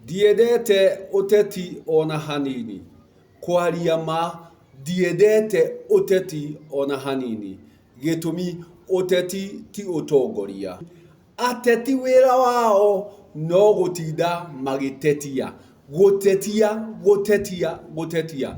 Ndiendete ũteti ona hanini. Kwaria ma, ndiendete ũteti ona hanini. Gĩtũmi, ũteti ti ũtongoria. Ateti wĩra wao no gũtinda magĩtetia. Gũtetia, gũtetia, gũtetia.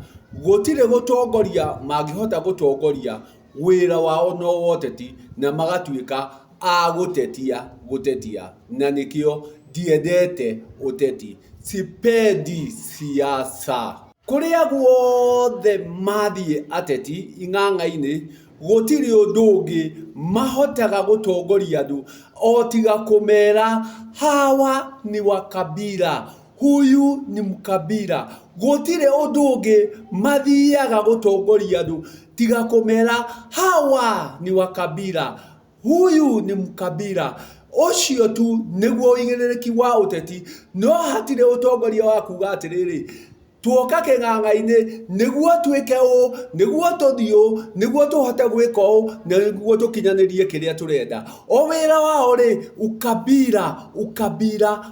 Gũtirĩ gũtongoria mangĩhota gũtongoria wĩra wao no woteti na magatuĩka a gũtetia gũtetia na nĩkĩo ndiendete ũteti. Sipendi siasa. Kũrĩa guothe mathiĩ ateti ing'ang'a-inĩ gũtirĩ ũndũ ũngĩ mahotaga gũtongoria andũ o tiga kũmera hawa ni wa kabira Huyu ni mkabira. Gũtirĩ ũndũ ũngĩ mathiaga gũtongoria andũ tiga kũmera hawa ni wakabira. Huyu ni mkabira. Ũcio tu nĩguo ũigĩrĩrĩki wa ũteti, no hatirĩ ũtongoria wa kuuga atĩrĩrĩ, tuoka kĩng'ang'a-inĩ nĩguo twĩke ũũ, nĩguo tũthiĩ ũũ, nĩguo tũhote gwĩka ũũ, nĩguo tũkinyanĩrie kĩrĩa tũrenda. O wĩra wao rĩ, ukabira, ukabira.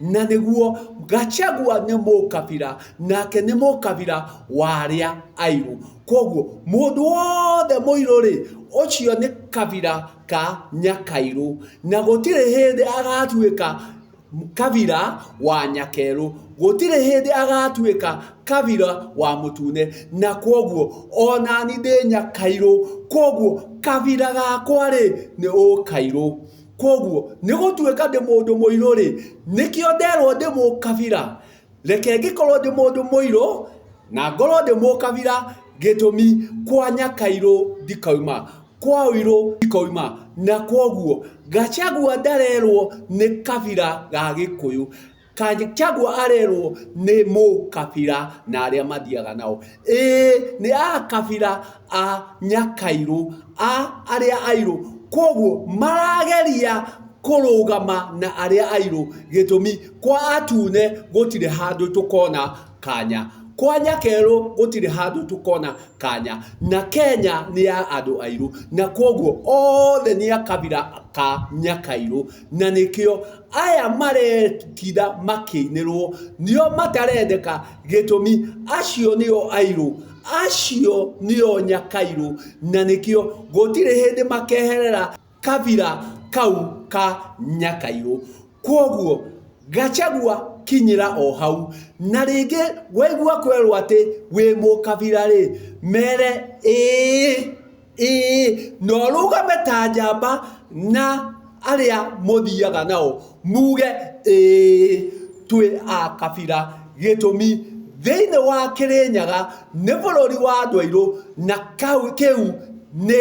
Na nĩguo, Gachagua nĩ mũkabira, nake nĩ mũkabira wa arĩa airũ. Kwoguo, mũndũ wothe mũirũ rĩ, ũcio nĩ kabira ka Nyakairũ. Na gũtirĩ hĩndĩ agatuĩka kabira wa Nyakerũ. Gũtirĩ hĩndĩ agatuĩka kabira wa Mũtune. Na kwoguo, onani ndĩ Nyakairũ. Kwoguo, kabira gakwa rĩ, nĩ Ũkairũ. Kwoguo, nĩ gũtuĩka ndĩ mũndũ mũirũ-rĩ, nĩkĩo nderwo ndĩ mũkabira. Reke ngĩkorwo ndĩ mũndũ mũirũ, na ngorwo ndĩ mũkabira, gĩtũmi, kwa nyakairũ ndikauma, kwa ũirũ ndikauma. Na kwoguo, Gachagua ndarerwo nĩ kabira ga Gĩkũyũ. Kanjagwa arerwo nĩ mũkabira na arĩa mathiaga nao. Ĩĩ nĩ akabira a nyakairũ a arĩa airũ. Koguo marageria kũrũgama na arĩa airũ gĩtũmi kwa atune gũtirĩ handũ tũkona kanya. Kwa nyakerũ gũtirĩ handũ tũkona kanya. Na Kenya nĩ ya andũ airũ. Na koguo othe nĩ akabira ka nyakairũ. Na nĩkĩo aya maretira makĩinĩrwo nĩo matarendeka gĩtũmi acio nĩo airũ, acio nĩo nyakairũ na nĩkĩo gũtirĩ hĩndĩ makeherera kabira kau ka nyakairũ. Kwoguo Gachagua kinyĩra o hau. Na rĩngĩ waigua kwerwo atĩ wĩ mũkabira rĩ, mere ĩĩ. Ĩĩ, na ũrũgame ta njamba na arĩa mũthiaga nao, muuge, Ĩĩ, twĩ a kabira. Gĩtũmi, thĩinĩ wa Kĩrĩnyaga nĩ bũrũri wa andũ airũ, na kĩu nĩ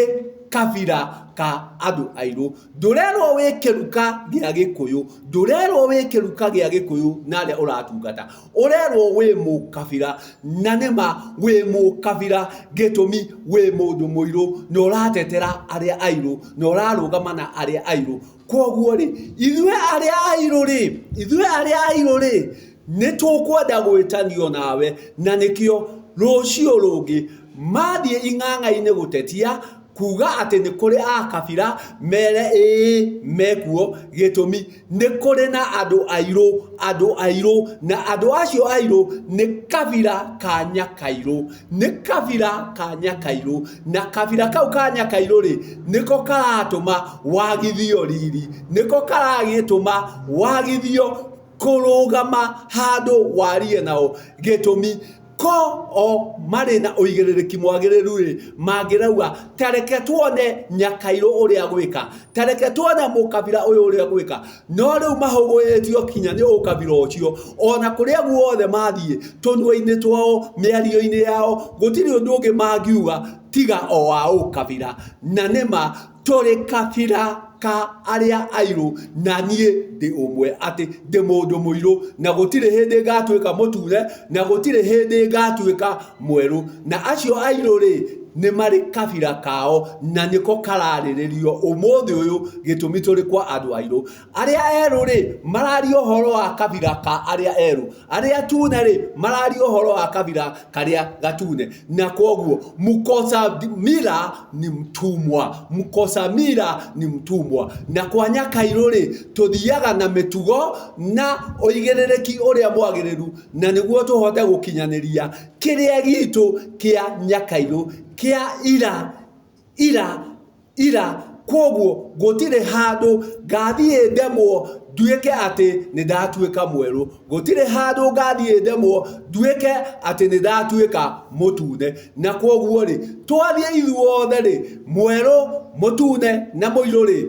kabira ka andũ airũ. Ndũrerwo wĩ kĩruka gĩa Gĩkũyũ, ndũrerwo wĩ kĩruka gĩa Gĩkũyũ na arĩa ũratungata. ũrerwo wĩ mũkabira na nĩma wĩ mũkabira gĩtũmi wĩ mũndũ mũirũ na ũratetera arĩa airũ na ũrarũgama na arĩa airũ kwoguo rĩ ithuĩ arĩa airũ rĩ ithuĩ arĩa airũ rĩ nĩ tũkwenda gwĩtanio nawe na nĩkĩo rũciũ rũngĩ mathiĩ ing'ang'a-inĩ gũtetia kuga atĩ nĩ kũrĩ akabira mere ĩĩ mekuo gĩtũmi Nĩ kũrĩ na andũ airũ, andũ airũ, na andũ acio airũ nĩ kabira ka Nyakairũ. Nĩ kabira ka Nyakairũ, na kabira kau ka Nyakairũ rĩ, nĩko karatũma wagithio riri, nĩko karagĩtũma wagithio kũrũgama handũ warie nao. Gĩtũmi. Ko o marĩ na ũigĩrĩrĩki mwagĩrĩru-rĩ, mangĩrauga, 'Ta reke tuone Nyakairũ ũrĩa agwĩka, ta reke tuone mũkabira ũyũ ũrĩa ũgwĩka. No rĩu mahũgũĩtio kinya nĩ ũkabira ũcio. O na kũrĩa guothe mathiĩ, tũnua-inĩ twao, mĩario-inĩ yao, gũtirĩ ũndũ ũngĩ mangiuga tiga o wa ũkabira. Na nĩ ma. Tũrĩ kabira ka arĩa airũ, na niĩ ndĩ ũmwe, atĩ ndĩ mũndũ mũirũ, na gũtirĩ hĩndĩ ngaatuĩka mũtune, na gũtirĩ hĩndĩ ngaatuĩka mwerũ. Na acio airũ-rĩ, nĩ marĩ kabira kao, na nĩko karaarĩrĩrio ũmũthĩ ũyũ, gĩtũmi tũrĩ kwa andũ airũ. Arĩa erũ-rĩ, mararia ũhoro wa kabira ka arĩa erũ, arĩa atune-rĩ, mararia ũhoro wa kabira karĩa gatune. Na kwoguo, mkosa mila ni mtumwa, mkosa mila ni mtumwa. Na kwa Nyakairũ-rĩ, tũthiaga na mĩtugo na ũigĩrĩrĩki ũrĩa mwagĩrĩru, na nĩguo tũhote gũkinyanĩria kĩrĩa gitũ kĩa Nyakairũ kĩa ira, ira. ira, kwoguo gũtirĩ handũ ngaathiĩ ndemwo nduĩke atĩ nĩ ndatuĩka mwerũ, gũtirĩ handũ ngaathiĩ ndemwo nduĩke atĩ nĩ ndatuĩka mũtune. Na kwoguo-rĩ, twathiĩ ithuothe-rĩ, mwerũ, mũtune na mũirũ-rĩ,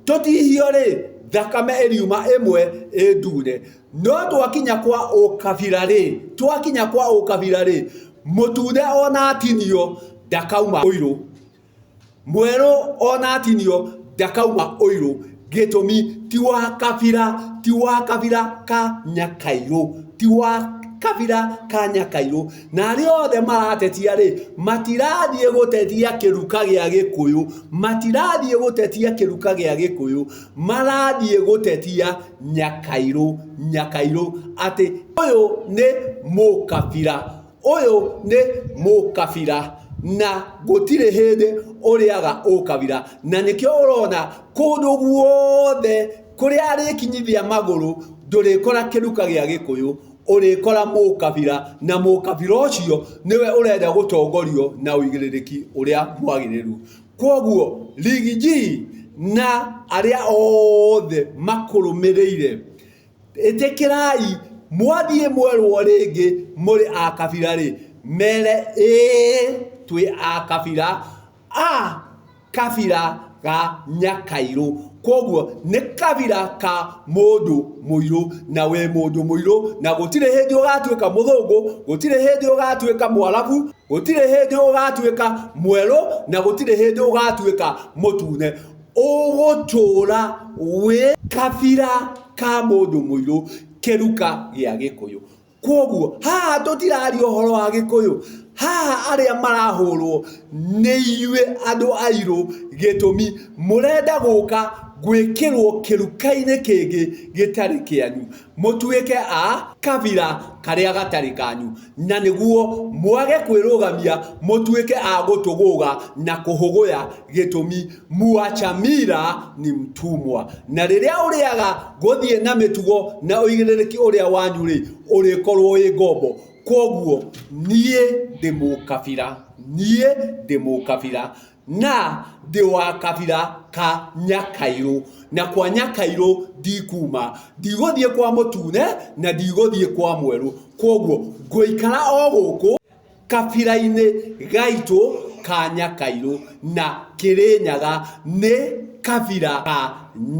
tũtihio-rĩ, thakame ĩriuma ĩmwe ĩ ndune. No twakinya kwa ũkabira-rĩ, twakinya kwa ũkabira-rĩ, mũtune o na atinio, ndakauma ũirũ. Mwerũ onatinio ndakauma ũirũ gĩtũmi ti wa kabira ti wa kabira ka nyakairũ ti wa kabira ka nyakairũ na arĩa othe maratetia rĩ matirathiĩ gũtetia kĩruka gĩa gĩkũyũ matirathiĩ gũtetia kĩruka gĩa gĩkũyũ marathiĩ gũtetia nyakairũ nyakairũ atĩ ũyũ nĩ mũkabira. Ũyũ nĩ mũkabira na gũtirĩ hĩndĩ ũrĩaga ũkabira na nĩkĩo ũrona kũndũ guothe kũrĩa arĩkinyithia magũrũ ndũrĩkora kĩruka gĩa gĩkũyũ ũrĩkora mũkabira na mũkabira ũcio nĩwe ũrenda gũtongorio na ũigĩrĩrĩki ũrĩa mwagĩrĩru. Kwoguo Rigiji na arĩa othe makũrũmĩrĩire... Ĩtĩkĩrai, mwathiĩ mwerwo rĩngĩ mũrĩ a kabira rĩ, mere, Ĩĩ twĩ a kabira, a kabira ga Nyakairũ. Kwoguo nĩ kabira ka mũndũ mũirũ, na wĩ mũndũ mũirũ, na gũtirĩ hĩndĩ ũgatuĩka mũthũngũ, gũtirĩ hĩndĩ ũgatuĩka mwarabu, gũtirĩ hĩndĩ ũgatuĩka mwerũ, na gũtirĩ hĩndĩ ũgatuĩka mũtune. Ũgũtũũra wĩ kabira ka mũndũ mũirũ kĩruka gĩa gĩkũyũ. Kwoguo haha tũtiraria ũhoro wa gĩkũyũ, haha arĩa marahũrwo nĩ inyuĩ andũ airũ gĩtũmi mũrenda gũka gwĩkĩrwo kĩruka-inĩ kĩngĩ gĩtarĩ kĩanyu. mũtuĩke a kabira karĩa gatarĩ kanyu, na nĩguo mwage kwĩrũgamia mũtuĩke a gũtũgũga na kũhũgũya gĩtũmi, Muachamira ni mtumwa. Na rĩrĩa ũrĩaga gũthiĩ na mĩtugo na ũigĩrĩrĩki ũrĩa wanyu-rĩ, ũrĩkorwo wĩ ngombo. Kwoguo niĩ ndĩ mũkabira, niĩ ndĩ mũkabira. na ndĩ wa kabira ka Nyakairũ, na kwa Nyakairũ ndikuuma, ndigũthiĩ kwa mũtune na ndigũthiĩ kwa mwerũ, kwoguo ngũikara o gũkũ kabira-inĩ gaitũ ka Nyakairũ, na Kĩrĩnyaga nĩ kabira ka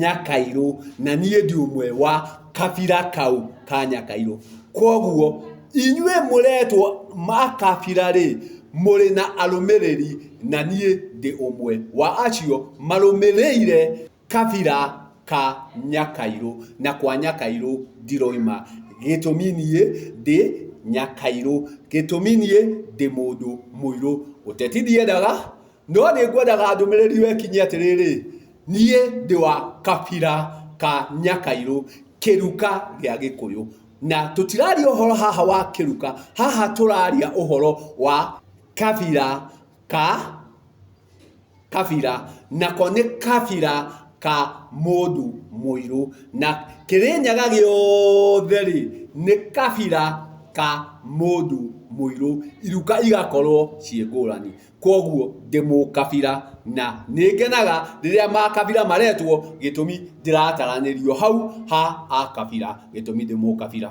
Nyakairũ, na niĩ ndi ũmwe wa. kabira kau ka nyakairũ koguo inyuĩ mũretwo makabira rĩ mũrĩ na arũmĩrĩri na niĩ ndĩ ũmwe wa acio marũmĩrĩire kabira ka nyakairũ na kwa nyakairũ ndiroima gĩtũmi niĩ ndĩ nyakairũ gĩtũmi niĩ ndĩ mũndũ mũirũ ũteti ndiendaga No nĩ ngwendaga ndũmĩrĩri yo ĩkinye atĩrĩrĩ, Niĩ ndĩ wa kabira ka Nyakairũ, kĩruka gĩa Gĩkũyũ. Na tũtiraria ũhoro haha wa kĩruka, haha tũraria ũhoro wa kabira ka kabira, nako nĩ kabira ka mũndũ mũirũ. Na Kĩrĩnyaga gĩothe rĩ, nĩ kabira ka mũndũ mũirũ, iruka igakorwo ciĩ ngũrani. Kwoguo ndĩ mũkabira na nĩngenaga rĩrĩa makabira maretwo gĩtũmi ndĩrataranĩrio hau ha akabira gĩtũmi ndĩ mũkabira.